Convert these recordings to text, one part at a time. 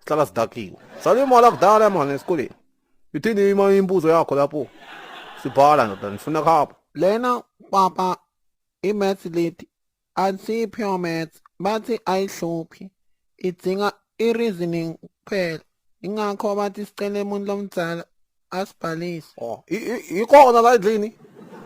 sihlala sidakiwe sale imali akudala mani esikoleni ithini ima imbuzo yakho lapho sibhala ndoda ngifuna khapha lena papa imaths leti athi pure maths bathi ayihluphi idzinga i-reasoning kuphela ingakho bathi sicele umuntu lomdzala Asibhalise. Oh, i- i- ikhona la endlini.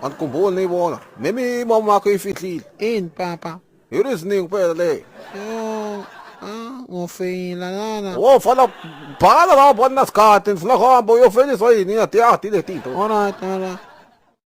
Andikhumbuli niyibona. Nemi mama wakho ifihlile. Ini papa? Yini iziningi kuphela le. Yo, ah, ngofeyila lana. Wo fana bhala la bona sikhathi ngifuna kuhamba uyofeliswa yini ngiyadiyadi le tinto. Alright, alright.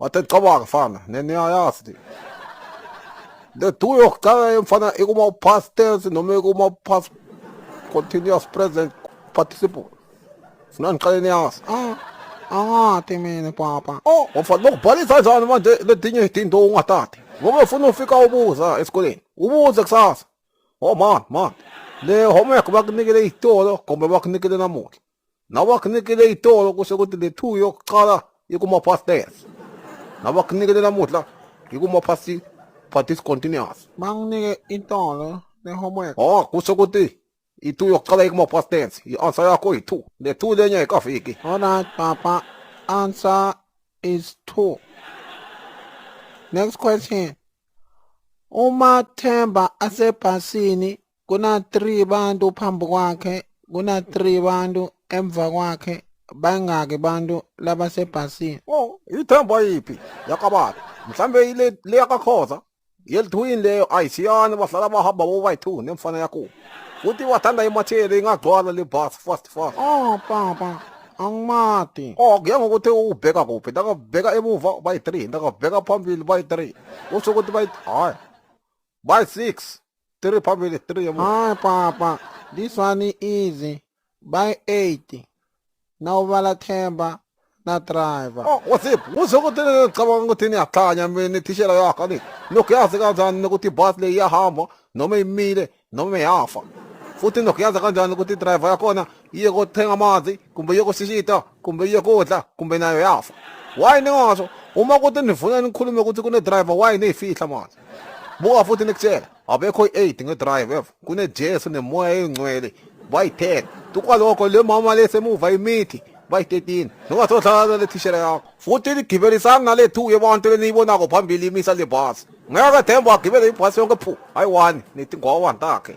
Wathi cabanga fana neniyayazi le two yokucala yemfana ikuma past tense noma ikuma past continuous present participle funa ngiqale niyazi ah awati mina papa oh wafana lokubhalisa njani manje letinye izinto ungatati ngoba ufuna ufika ubuza esikoleni ubuze kusasa oh man man le homework bakunikele itolo kumbe bakunikele namuhla nabakunikile itolo kusho ukuthi le two yokuqala ikumapasters nabakunikele namuhla ikumapasi for discontinuous banginike itolo le-homework oh kusho ukuthi i-two yokuqala ikumapasters i-answer yakho yi-two le two lenye ayikafiki alright papa answer is two next question uma themba asebhasini kuna-three bantu phambi kwakhe kuna-three bantu emva kwakhe bangaki bantu labasebhasini oh ithemba yiphi yakababa mhlawumbe ile le yakakhoza yelithuwini leyo ayisiyani bahlala bahamba bobayi-two nemfana yakubo futhi wathanda imatheli ingagcwala le bus fast fast oh papa angimati oh kuya ngokuthi ubheka kuphi ndakabheka emuva bayi-three ndakabheka phambili bayi-three usho ukuthi bayi hhayi bayi-six three phambili three yabo Hi papa, this one is easy. By 80. Now bala themba na driver. Oh, what's up? Musa ukuthi ngicabanga ukuthi niyakhanya mina ithishela yakho ni. Nokuyazi kanjani ukuthi bus le iyahamba noma imile noma iyafa. Futhi nokuyazi kanjani ukuthi driver yakhona yokuthenga amanzi kumbe yokusishita kumbe yokudla kumbe nayo yafa why ningasho uma kuthi nifuna nikhulume ukuthi kunedriver why niyifihla manje buka futhi nikutshela abekho i-aid ngedrive evo kunejesu nemoya eyingcwele bayi-10 tukwaloko le mama le semuva imithi bayi-13 nongasohlala le thishela yakho futhi nigibelisani nale two yebantu leniyibonako phambili imisa le bhasi ngeke themba agibele ibhasi yonke phu hayi wani nithi ngowa ntakhe